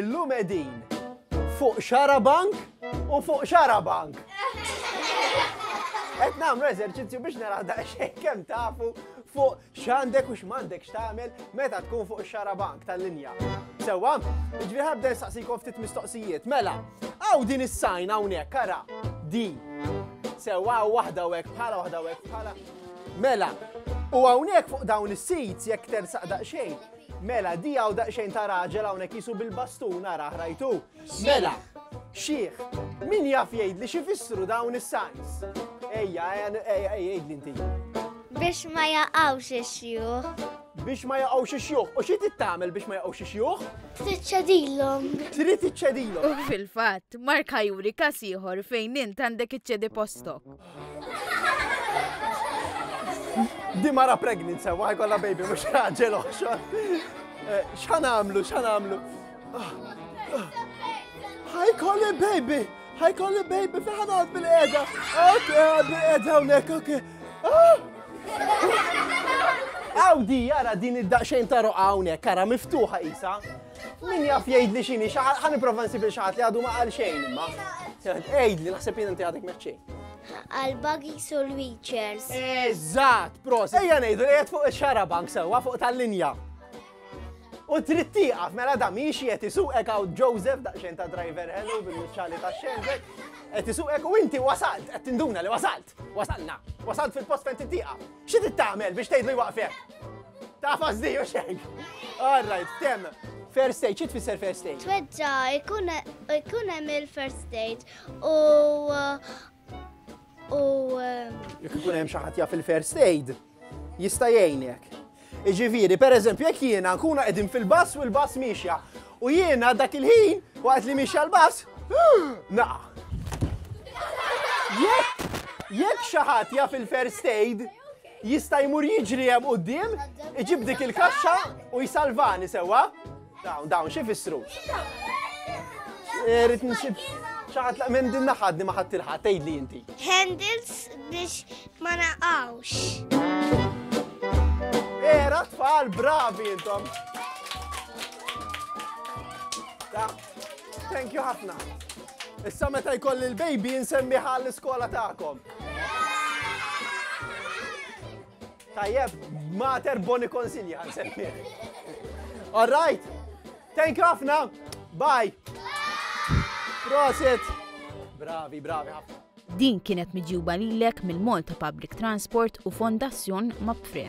Illum qegħdin fuq xarabank u fuq xarabank. Qed nagħmlu eżerċizzju biex nara daqsxejn kemm tafu fuq x'għandek u x'mandek x'tagħmel meta tkun fuq xarabank tal-linja. Sewwa, ġifieri ħabda nsaqsikom ftit mistoqsijiet. Mela, hawn din is-sajn hawnhekk ara di. Sewwa waħda u hekk bħala waħda u hekk bħala. Mela, u hawnhekk fuq dawn is-sejts jekk tersaq daqsxejn, Mela, di hawn daqsxejn ta' raġel hawnhekk qisu bil-bastun arah rajtu. Mela, xieħ, min jaf jgħidli xi fissru dawn is-signs? Ejja, ejja, jgħidli inti. Biex ma jaqgħux ix-xjuħ. Biex ma jaqgħux ix-xjuħ. U xi tittamel biex ma jaqgħux ix-xjuħ? Tiċċedilhom. Trid iċċedilhom. U fil-fatt, Mark ħajuri kas ieħor fejn int għandek iċċedi postok. Di mara pregnant sewa, ħajkolla baby, mux raġel oħxon. Eh, xħan għamlu, xħan għamlu. Ħajkolli baby, ħajkolli baby, fiħan għad bil-eda. Ok, għad bil-eda unek, ok. Għaw ah! di, jara din id-daqxejn ta' roqa unek, kara miftuħa isa. Min jaf jgħidli xini, ħan iprova nsib il-xaħat li għadu ma għal xejn imma. Ejd li naħseb jien inti għadek meċċejn. Għal-buggy sul wheelchairs. Eżat, pros. Ejja nejdu li fuq il-xara bank sewa fuq tal-linja. U trid tieqaf mela da miex qed isuqek għaw Joseph daqsxejn ta' driver hello bil-muċċali ta' xenżek. Qed isuqek u inti wasalt, qed tinduna li wasalt. Wasalna. Wasalt fil-post fejn titieqaf. Xi trid tagħmel biex tgħidlu jwaqfek? Tafas di u xejn. All right, tem. First aid, xi tfisser first aid? Tweġġa jkun hemm il-first aid u u jekk ikun hemm xi ħadd jaf il-first aid jista' jgħinek. Iġifieri, pereżempju, jekk jiena nkunu qegħdin fil-bass u l-bass miexja U jiena dak il-ħin, waqt li mixi għall-bass, naqa'. Jekk jekk xi ħadd jaf il-first aid, jista' jmur jiġri hemm quddiem, iġib dik il-kaxxa u jsalvani sewwa. Dawn, dawn, xi fissru? Rrid nsib xi ħadd minn din naħadni ma ħadd ilħaq tgħidli inti. Handles biex Ma naqgħux. Era tfal bravi intom. Ta, thank you ħafna. Issa meta jkolli l-baby nsemmiħa l-iskola tagħkom. Tajjeb, mater boni konsilja nsemmi. All right. Thank you ħafna. Bye. Prosit. Bravi, bravi ħafna. Din kienet miġjuba lilek mill-Malta Public Transport u Fondazzjon Mapfre.